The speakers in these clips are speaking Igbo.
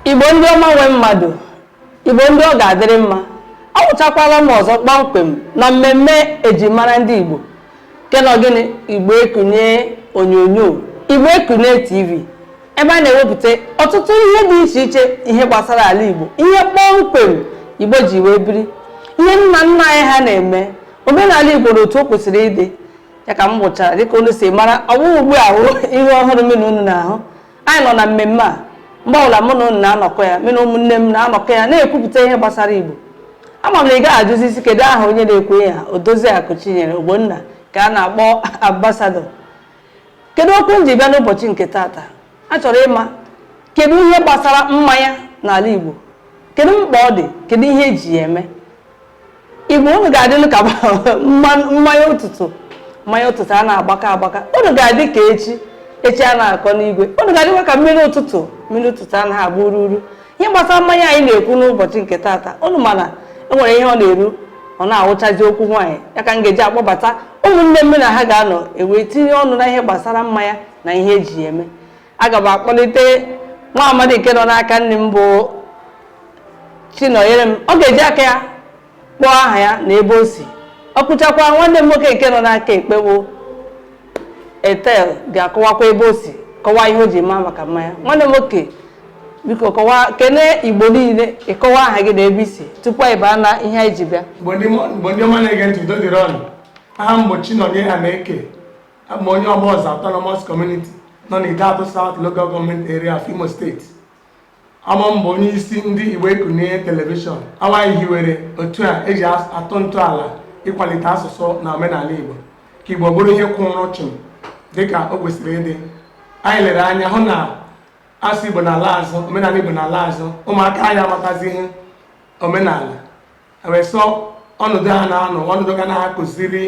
igbo ndị ọma nwe mmadụ igbo ndị ọ ga-adịrị mma awụchakwala m ọzọ kpọmkwem na mmemme e ji mara ndị igbo kenọ gịnị igbo ekunie onyonyo igbo ekunie tv ebe a na-ewepụta ọtụtụ ihe dị iche iche ihe gbasara ala igbo ihe kpọmkwem igbo ji wee biri ihe nna nna anyị ha na-eme omenala igbo na otu o kwesịrị ịdị ya ka m wụchara dịka unu si mara ọ bụghị ugbu a wụ ihe ọhụrụ mụ na unu na-ahụ anyị nọ na mmemme a mgbe ọbụla mụ na unu na-anọkọ ya mụ na ụmụnne m na-anọkọ ya na-ekwupụta ihe gbasara igbo ama m na ị gaghị ajụzi sị kedu aha onye na-ekwu ya odoziakụ chinyere ogbonna ka a na-akpọ ambasadọ kedu okwu m ji bịa n'ụbọchị nke taata a chọrọ ịma kedu ihe gbasara mmanya n'ala igbo kedu mkpa ọ dị kedu ihe eji ya eme igbo unu ga-adịlụ ka mmanya ụtụtụ mmanya ụtụtụ anaghị agbaka agbaka unu ga-adị ka echi echi anaghị akọ n'igwe unu ga-adịkwa ka mmiri ụtụtụ mmiri ụtụtụ anaghị agba ururu ihe gbasara mmanya anyị na-ekwu n'ụbọchị nke taata unu ma na e nwere ihe ọ na-eru ọ naghị awụchazi okwu nwaanyị ya ka m ga-eji akpọbata ụmụnne m mụ na ha ga-anọ e wee tinye ọnụ na ihe gbasara mmanya na ihe eji ya eme aga m akpọlite nwa amadi nke nọ n'aka nni m bụ chinọnyerem ọ ga-eji aka ya kpọọ aha ya na ebe o si o kwuchakwa nwanne m nwoke nke nọ n'aka ekpe bụ ethel ga-akọwakwa ebe o si kọwaa ihe o ji maa maka mmanya nwanne m nwoke biko kọwaa kene igbo niile ị kọwaa aha gị na ebe i si tupu anyị baa na ihe anyị ji bịa igbo ndị ọma na-ege ntị udo dịrị unu aha m bụ chinọnye ahaneke a wụ m onye Ogboza autonomous community nọ na Ideato South Local Government Area of Imo State ọ mụa bụ onye isi ndị Igbo Ekunie telivishọn ọ wụ anyị hiwere otu a e ji atọ ntọala ịkwalite asụsụ na omenala Igbo ka Igbo bụrụ ihe kwụrụ chịm dịka o kwesịrị ịdị anyị lere anya hụ na asụsụ Igbo na-ala azụ omenala Igbo na-ala azụ ụmụaka anyị amatazi ihe omenala ha wee sị ọnọdụ ha na-anọ ọnọdụ ga na-akụziri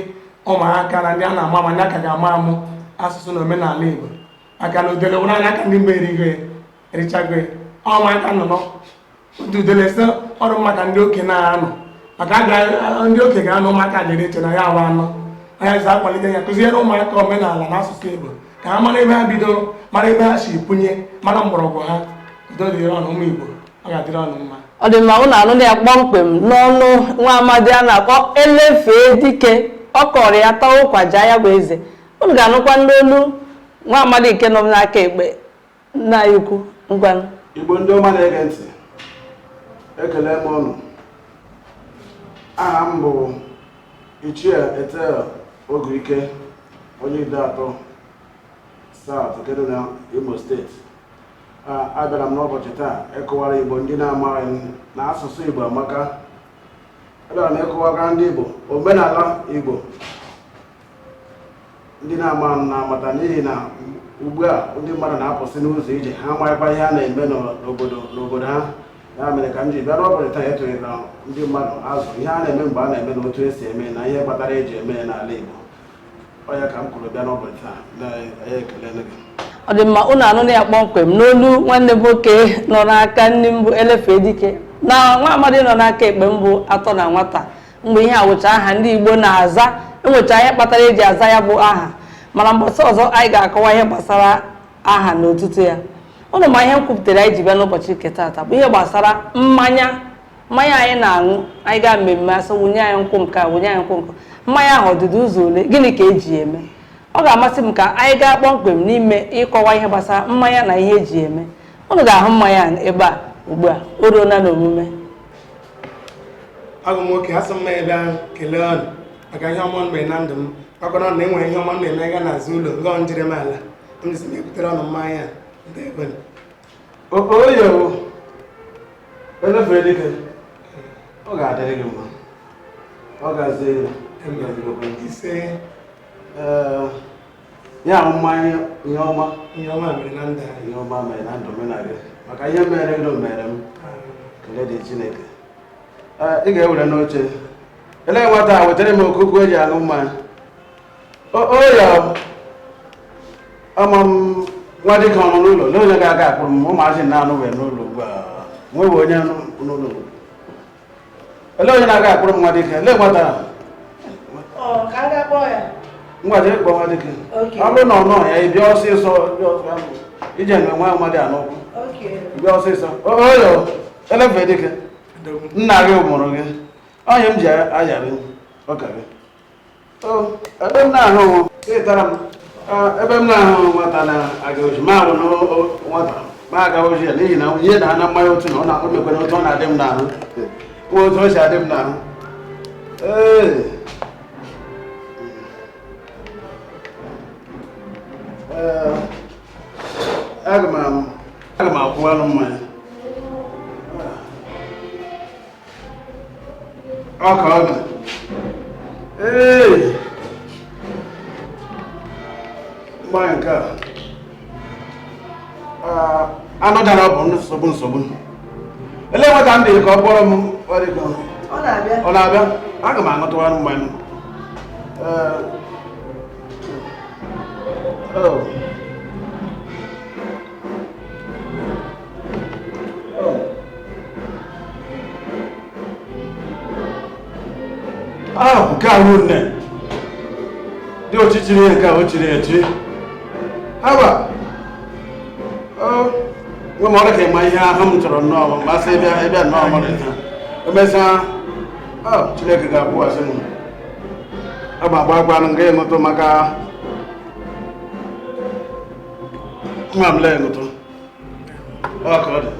ụmụaka na ndị a na-amụ ma ndị a ka ga-amụ amụ asụsụ na omenala Igbo maka na udele wụrụ anụ aka ndị mgbe erigo ya erichago ya ụmụaka nọ nọ otu udele sị ọrụ maka ndị oke na-anọ maka a ga- ndị oke ga-anọ ụmụaka dịrị iche na ya awa anọ anya ji akwalite ya kụziere ụmụaka omenala na asụsụ Igbo ka ha mara ebe ha bidoro mara ebe ha si punye mara mgbọrọgwụ ha udo dịrị unu ụmụ Igbo ọ ga-adịrị ọnụ mma ọ dị mma unu anụna ya kpọmkwem n'ọnụ nwa amadi a na-akpọ elefee dike ọ kọrọ ya tawa ụkwa ja ya bụ eze unu ga-anụkwanụ olu nwa amadi nke nọ m n'aka ekpe nna anyị ukwu ngwanụ igbo ndị ọma na-ege ntị ekelee m unu aha m bụ ichie etel oge ike onye ideato south nke dị na imo steeti abịara m n'ụbọchị taa ịkọwara Igbo ndị na-amaghị na asụsụ Igbo amaka abịara m ịkọwara ndị Igbo omenala Igbo ndị na-amaghị na-amata n'ihi na ugbu a ndị mmadụ na-apụsị n'ụzọ ije ha amaghịkwa ihe a na-eme n'obodo ha ya mere ka m ji bịa n'ụbọchị taa etụnyere na ndị mmadụ azụ ihe a na-eme mgbe a na-eme na otu esi eme na ihe kpatara eji eme n'ala Igbo ọ dị mma unu anụna ya kpọmkwem n'olu nwanne m nwoke nọ n'aka nri m bụ elefe dike na nwa amadi nọ n'aka ekpe m bụ atọ na nwata mgbe ihe a wụcha aha ndị igbo na-aza enwecha ihe kpatara eji aza ya bụ aha mana mbọsị ọzọ anyị ga-akọwa ihe gbasara aha na otutu ya unu ma ihe m kwupụtara anyị ji bịa n'ụbọchị nke taata bụ ihe gbasara mmanya mmanya anyị na-aṅụ anyị gaa mmemme a sị wụnye anyị nkwụ nke a wụnye anyị nkwụ nke mmanya ahụ ọ dịdụ ụzọ ole gịnị ka eji ya eme ọ ga-amasị m ka anyị gaa kpọmkwem n'ime ịkọwa ihe gbasara mmanya na ihe eji ya eme unu ga-ahụ mmanya ebe a ugbu a o ruola n'omume agụ nwoke asị m ma abịa kelee unu maka ihe ọma mere na ndụ m kpakọrọ na enwere ihe ọma na-eme ga n'ezinụlọ ngọ njiri m ala m jisi na-ebutere unu mmanya oyewo elefere dike ọ ga-adịrị gị mma ọ gazie ise ya mmanya ihe ọma ihe ọma mere na ndụ ihe ọma mere na ndụ mena gị maka ihe mere gị mere m kele dị chineke ị ga-ewere n'oche elee nwata a wetara m okuku eji aṅụ mmanya ama m nwa dike ọ nọ n'ụlọ ele onye ga-aga akpọrọ m ụmụazị na-anọwe n'ụlọ ugbu a nwewe onye n'ụlọ ele onye na-aga akpọrọ m nwa dike ele gbata ngwa jee kpọọ nwa dike ọ bụrụ na ọ nọ ya ịbịa ọsịsọ ije nwe nwa mmadụ a n'ụkwụ bịa ọsịsọ oyo elefe dike nna gị mụrụ gị onye m ji ayarị ụka gị ebe m na-ahụ ịtara m ebe m na-ahụ nwata na-aga ozi ma ahụ na nwata ma aga ozi ya n'ihi na ihe na ana mmanya otu na ọ na-akpọ mekwana otu ọ na-adị m n'ahụ nwa otu o si adị m n'ahụ ee aga m akwụwalụ mmanya ọ ka ọ dị ee mmanya nke a anụ dara bụ nsogbu nsogbu ele nwe ka m dịrị ka ọ kpọrọ m ọ na-abịa aga m aṅụtụwara mmanya Oh. Ah, nke a ruo nne dị ọchịchịrị ya nke a o chiri echi haba nwe ma ọ ka ịma ihe ahụ m chọrọ nnọọ ma mmasị ịbịa ịbịa nnọọ mara ihe emesịa ah, chineke ga-akwụghachi m agba agba agbanụ nke ịṅụtụ maka Mam lẹ́nu tó. Ọ ka ọ dị.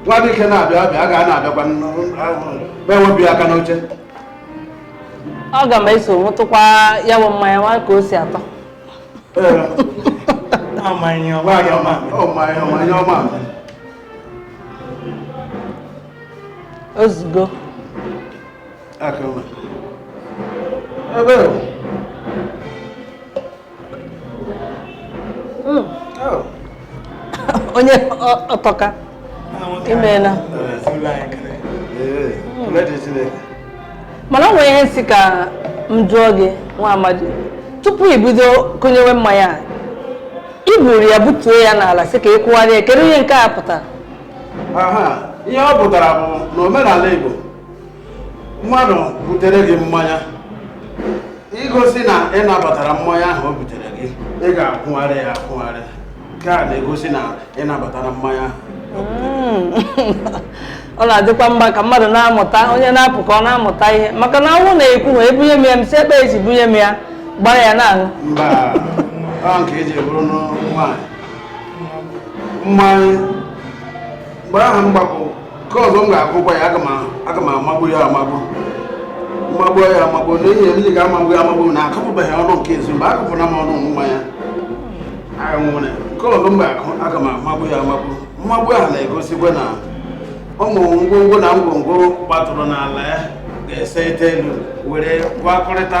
Nwa dị ike na-abịa abịa, a ga na-abịakwa bewe bi aka n'oche. Ọ ga m eso ṅụtụkwa ya bụ mmanya nwa ka o si atọ. Mmanya ọma. Mmanya ọma. Mmanya ọma. Ozugbo. Akama. Ebe o. Hmm. Oh. Onye ọ tọka. Imeela. Mana o nwere ihe m sị ka m jụọ gị nwa amadi tupu i bido kụnyewe mmanya a i buru ya butuo ya n'ala sị ka ị kụgharịa kedu ihe nke a pụtara ihe ọ pụtara bụ na omenala Igbo mmadụ butere gị mmanya igosi na ị nabatara mmanya ahụ o butere gị ị ga-akwụgharị ya akwụgharị nke a na-egosi na ị nabatara mmanya ahụ hmm. ọ na-adịkwa mma ka mmadụ na-amụta onye na-apụ ka ọ na-amụta ihe maka na ọ wụ na ekwuha ebunye m ya m si ebe esi bunye m ya gbara ya na-aṅụ mba nke eji buru nwaanyị mmanya mgbe ahụ mgbapụ nke ọzọ m ga-agụkwa ya aga m amagbu ya amagbu mmagbu ya amagbu na ihe m ga-amagbu ya amagbu na akụpụbeghị ọnụ nke ezi mgbe akụpụna m ọnụ nwa ya nwere nke ọzọ m ga-agụ aga m amagbu ya amagbu mmagbu ahụ na-egosikwa na ụmụ ngwongwo na ngwongwo gbatụrụ n'ala ya ga-ese ite elu were gwakọrịta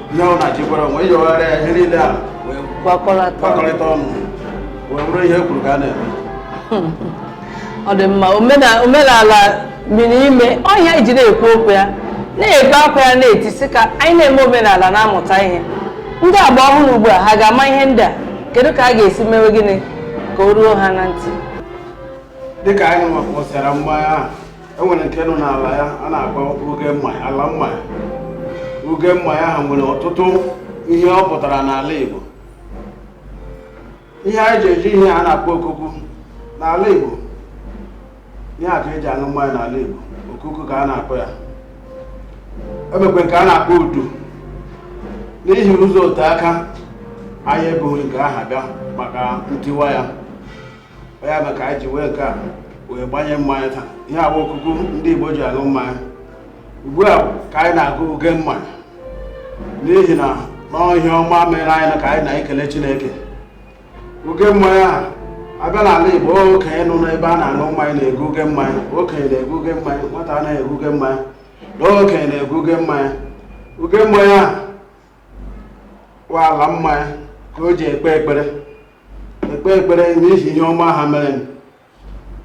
ihe ọ na-achịkwara onwe yọgharịa ya ihe niile a wee gbakọrịta ọnụ wee bụrụ ihe kwuru ka a na-eme ọ dị mma omenala miri ime ọ ihe e ji na-ekwu okwu ya na-ebe akwa ya na-eti sị ka anyị na-eme omenala na-amụta ihe ndị agba ọhụrụ ugbu a ha ga-ama ihe ndị a kedu ka a ga-esi mewe gịnị ka o ruo ha na ntị dịka anyị nwakpọsara mmanya ahụ enwere nke nọ n'ala ya a na-akpọ uge mmanya ala mmanya uge mmanya ahụ nwere ọtụtụ ihe ọ pụtara n'ala Igbo ihe anyị ji eji ihe a na-akpọ okuku n'ala Igbo ihe a ka eji aṅụ mmanya n'ala Igbo okuku ka a na-akpọ ya enwekwara nke a na-akpọ udu n'ihi ụzọ ote aka anyị ebughị nke aha bịa maka ntiwa ya ya na ka anyị ji were nke a wee gbanye mmanya taa ihe a bụ okuku ndị Igbo ji aṅụ mmanya ugbu a ka anyị na-aga uge mmanya n'ihi na ọ ihe ọma mere anyị ka anyị na-ekele Chineke uge mmanya a abịa n'ala Igbo okenye nọ n'ebe a na-aṅụ mmanya na-egu uge mmanya okenye na-egu uge mmanya nwata anaghị egu uge mmanya na okenye na-egu uge mmanya uge mmanya a kwa ala mmanya ka o ji ekpe ekpere ekpe ekpere n'ihi ihe ọma ahụ mere m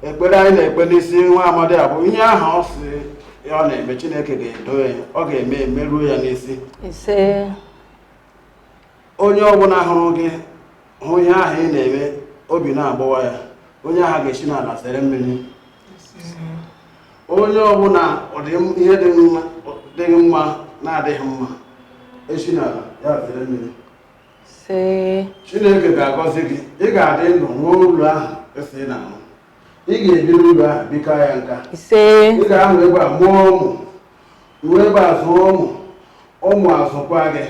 ekpere anyị na-ekpe n'isi nwa amadi a bụ ihe ahụ ọ sị ya ọ na-eme chineke ga-edu ya ọ ga-eme emeruo ya n'isi ise onye ọbụla hụrụ gị hụ ihe ahụ ị na-eme obi na-agbawa ya onye ahụ ga-esi n'ala zere mmiri onye ọbụla ihe dị mma na-adịghị mma esi n'ala ya zere mmiri chineke ga-agọzi gị ị ga-adị ndụ nwee ụlọ ahụ esi na ahụ ị ga-ebi n'ụlọ ahụ bikaa ya nka ị ga-anọ ebe a mụọ ụmụ nọrọ ebe a zụọ ụmụ ụmụ azụkwa gị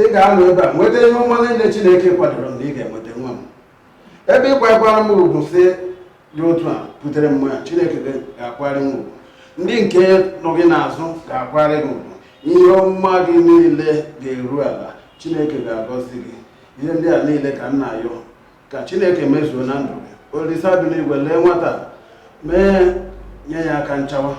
ị ga-anọ ebe a nweta ihe ọma niile chineke kwadoro na ị ga-enweta nwa m ebe ị kwakwara m ugwu si dị otu a butere mmanya chineke ga-akwara gị ugwu ndị nke nọ gị n'azụ ga-akwara gị ugwu ihe ọma gị niile ga-eru ala chineke ga-agọzi gị ihe ndị a niile ka m na-ayọ ka chineke mezuo na ndụ gị olisa dị n'igwe lee nwata mee nye ya aka nchawa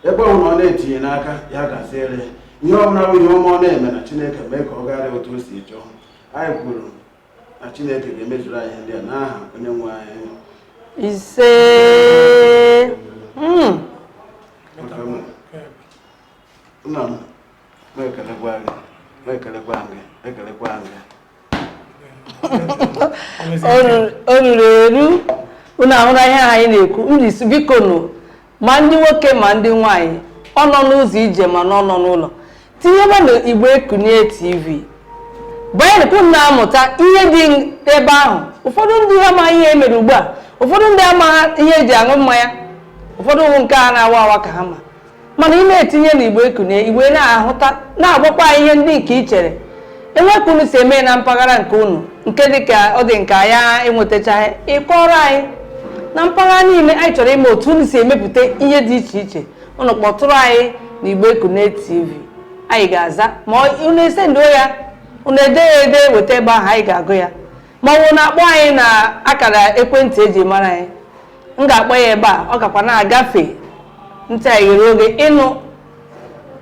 ebe ọ bụla ọ na-etinye n'aka ya gaziere ihe ọ bụla bụ ihe ọma ọ na-eme na chineke mee ka ọ gagharị otu o si chọọ anyị kwuru na Chineke ga-emezuru anyị ihe ndị a n'aha onye nwe anyị ise hmm. nna m na-ekelekwa gị na-ekelekwa gị na-ekelekwa gị o ruru eru unu ahụla ihe anyị na-ekwu mbisi biko nụ ma ndị nwoke ma ndị nwaanyị ọ nọ n'ụzọ ije ma na ọ nọ n'ụlọ tinyebenụ Igbo Ekunie TV banyenụ ka unu na-amụta ihe dị ebe ahụ ụfọdụ ndị amaghị ihe emere ugbu a ụfọdụ ndị amaghị ihe eji aṅụ mmanya ụfọdụ wụ nke a na-awa awa ka ha ma mana ị na-etinye na Igbo Ekunie ị ga na-ahụta na-agwakwa ihe ndị nke i chere e nwee ka unu si eme na mpaghara nke unu nke ọ dị ka anyị ewetachaghị ị kọọrọ anyị na mpaghara niile anyị chọrọ ịma otu unu si emepụta ihe dị iche iche unu kpọtụrụ anyị na Igbo Ekunie TV anyị ga-aza ma unu esenduo ya unu ede ya ede weta ebe ahụ anyị ga-agụ ya ma ọ bụ unu akpọọ anyị na akara ekwentị eji mara anyị m ga-akpọ ya ebe a ọ gakwa na-agafe ntị anyị ghere oghe ịnụ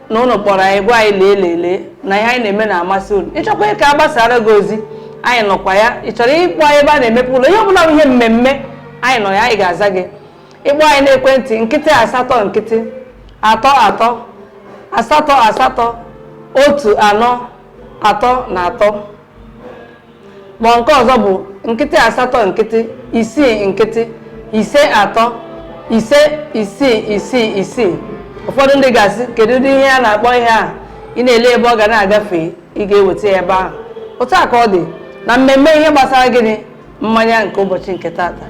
na ụnụ kpọrọ anyị gwa anyị lee lelee na ihe anyị na-eme na-amasị unu ị chọkwaa ka a gbasaara gị ozi anyị nọkwa ya ị chọrọ ịkpọ anyị ebe a na-emepe ụlọ ihe ọbụla wụ ihe mmemme anyị nọ ya anyị ga-aza gị ị kpọọ anyị n'ekwentị nkịtị asatọ nkịtị atọ atọ asatọ asatọ otu anọ atọ na atọ ma nke ọzọ bụ nkịtị asatọ nkịtị isii nkịtị ise atọ ise isii isii isii ụfọdụ ndị ga-asị kedu ụdị ihe a na-akpọ ihe a ị na-ele ebe ọ ga na-agafe ị ga-eweta ya ebe ahụ otu a ka ọ dị na mmemme ihe gbasara gịnị mmanya nke ụbọchị nke tata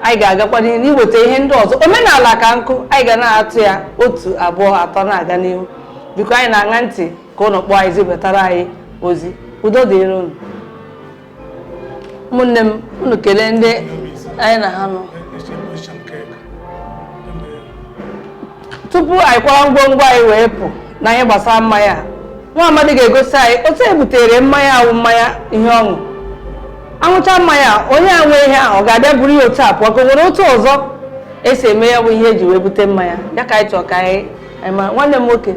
anyị ga-agakwa n'ihu n'iweta ihe ndị ọzọ omenala ka nkụ anyị ga na-atụ ya otu abụọ atọ na-aga n'ihu ebe anyị na-aṅa ntị ka ụnụ kpọọ anyị zibatara anyị ozi udo dịrị unu ụmụnne m unu kelee ndị anyị na ha nọ tupu anyị kwara ngwongwo anyị wee pụ na ihe gbasara mmanya nwa amadi ga-egosi anyị otu e butere mmanya wụ mmanya ihe ọṅụ aṅụcha mmanya onye a nwe ihe ahụ ọ ga-abịa buru ya otu a pụọ ka o nwere otu ọzọ esi eme ya bụ ihe eji wee bute mmanya ya ka anyị chọọ ka anyị nwanne m nwoke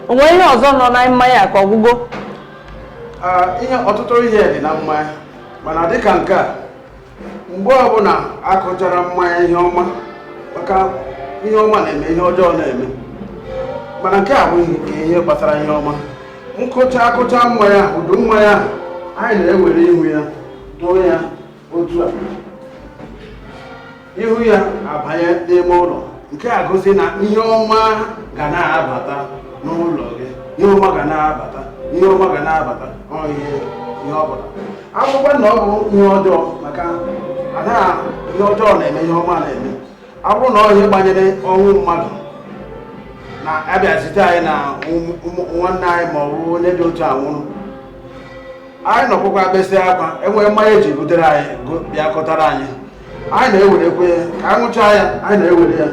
o nwere ihe ọzọ nọ na mmanya ka ọ gwụgo ihe ọtụtụ ihe dị na mmanya mana dịka nke a mgbe ọbụla akụchara mmanya ihe ọma maka ihe ọma na-eme ihe ọjọọ na-eme mana nke a wụ ihe gbasara ihe ọma nkụcha akụcha mmanya udu mmanya anyị na-ewere ihu ya tụọ ya otu a ihu ya abanye n'ime ụlọ nke a gosi na ihe ọma ga na-abata n'ụlọ gị ihe ọma ga na-abata ihe ọma ga na-abata ihe ihe ọ bụrụkwa na ọ bụ ihe ọjọọ maka na ihe ọjọọ na-eme ihe ọma na-eme ọ bụrụ na ọ ihe gbanyere ọnwụ mmadụ na a bịa zite anyị na nwanne anyị ma ọ bụ onye dị otu a nwụrụ anyị nọkọkwaa besịa akwa e were mmanya e ji butere anyị bịa kọtara anyị anyị na-ewerekwa ya ka anyị ṅụchaa ya anyị na-ewere ya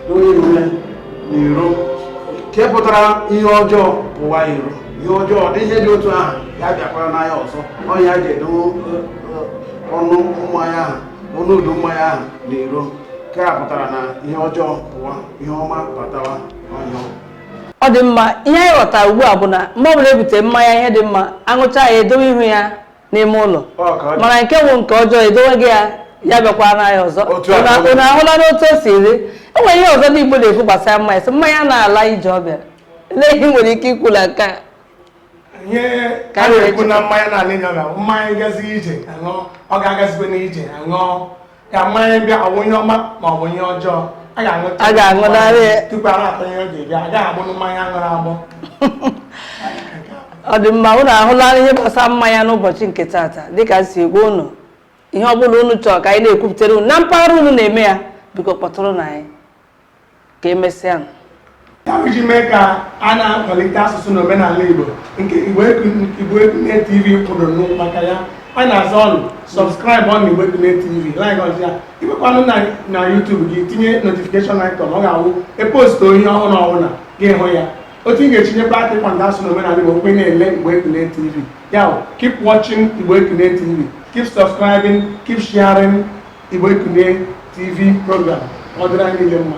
dowe ihu ya n'iro nke pụtara ihe ọjọọ pụwa iro ihe ọjọọ dị ihe dị otu ahụ ya abịakwarana anyị ọzọ ọ ya ga-edo ọnụ mmanya ahụ ọnụ udu mmanya ahụ n'iro nke a pụtara na ihe ọjọọ pụwa ihe ọma batawa ụlọ ọ dị mma ihe anyị ghọtara ugbu a bụ na mgbe ọbụla e bute mmanya ihe dị mma aṅụcha ya edowe ihu ya n'ime ụlọ mana nke bụ nke ọjọọ edowe gị ya ya abịakwana ya ọzọ unu ahụla n'otu o si dị e nwere ihe ọzọ ndị Igbo na-ekwu gbasara mmanya sị mmanya na-ala ije ọ bịa olee ihe i nwere ike ikwu na nke a ka a na-ekwu na mmanya na-ala ije ya na mmanya gazi ije aṅụọ ọ gaghị agazikwanụ ije aṅụọ ka mmanya bịa ọ bụ ihe ọma ma ọ bụ ihe ọjọọ a ga-aṅụrịrị tupu a na-atụ ihe ọ ga-ebịa a gaghị agbọ mmanya a ṅụrụ agbọ ọ dị mma unu ahụla ihe gbasara mmanya n'ụbọchị nke taata dịka e si agwa unu ihe ọ bụla unu chọrọ ka anyị na-ekwupụtara unu na mpaghara unu na-eme ya biko kpọtụrụnụ anyị ka emesịa iji mee ka a na-akwalite asụsụ na omenala Igbo nke Igbo Ekunie TV kwụdoro maka ya a na-asị unu subscribe na Igbo Ekunie TV likeịa ya ị jekwanụ na YouTube gị tinye notification icon ọ ga-awụ e post ihe ọhụrụ ọ wụrụ na ị ga-ahụ ya otu ị ga-esi ebata kwado asụsụ na omenala Igbo bụ ị na-ele Igbo Ekunie TV ya keep watching Igbo Ekunie TV keep subscribing keep sharing Igbo Ekunie TV program ọ dịrị anyị niile mma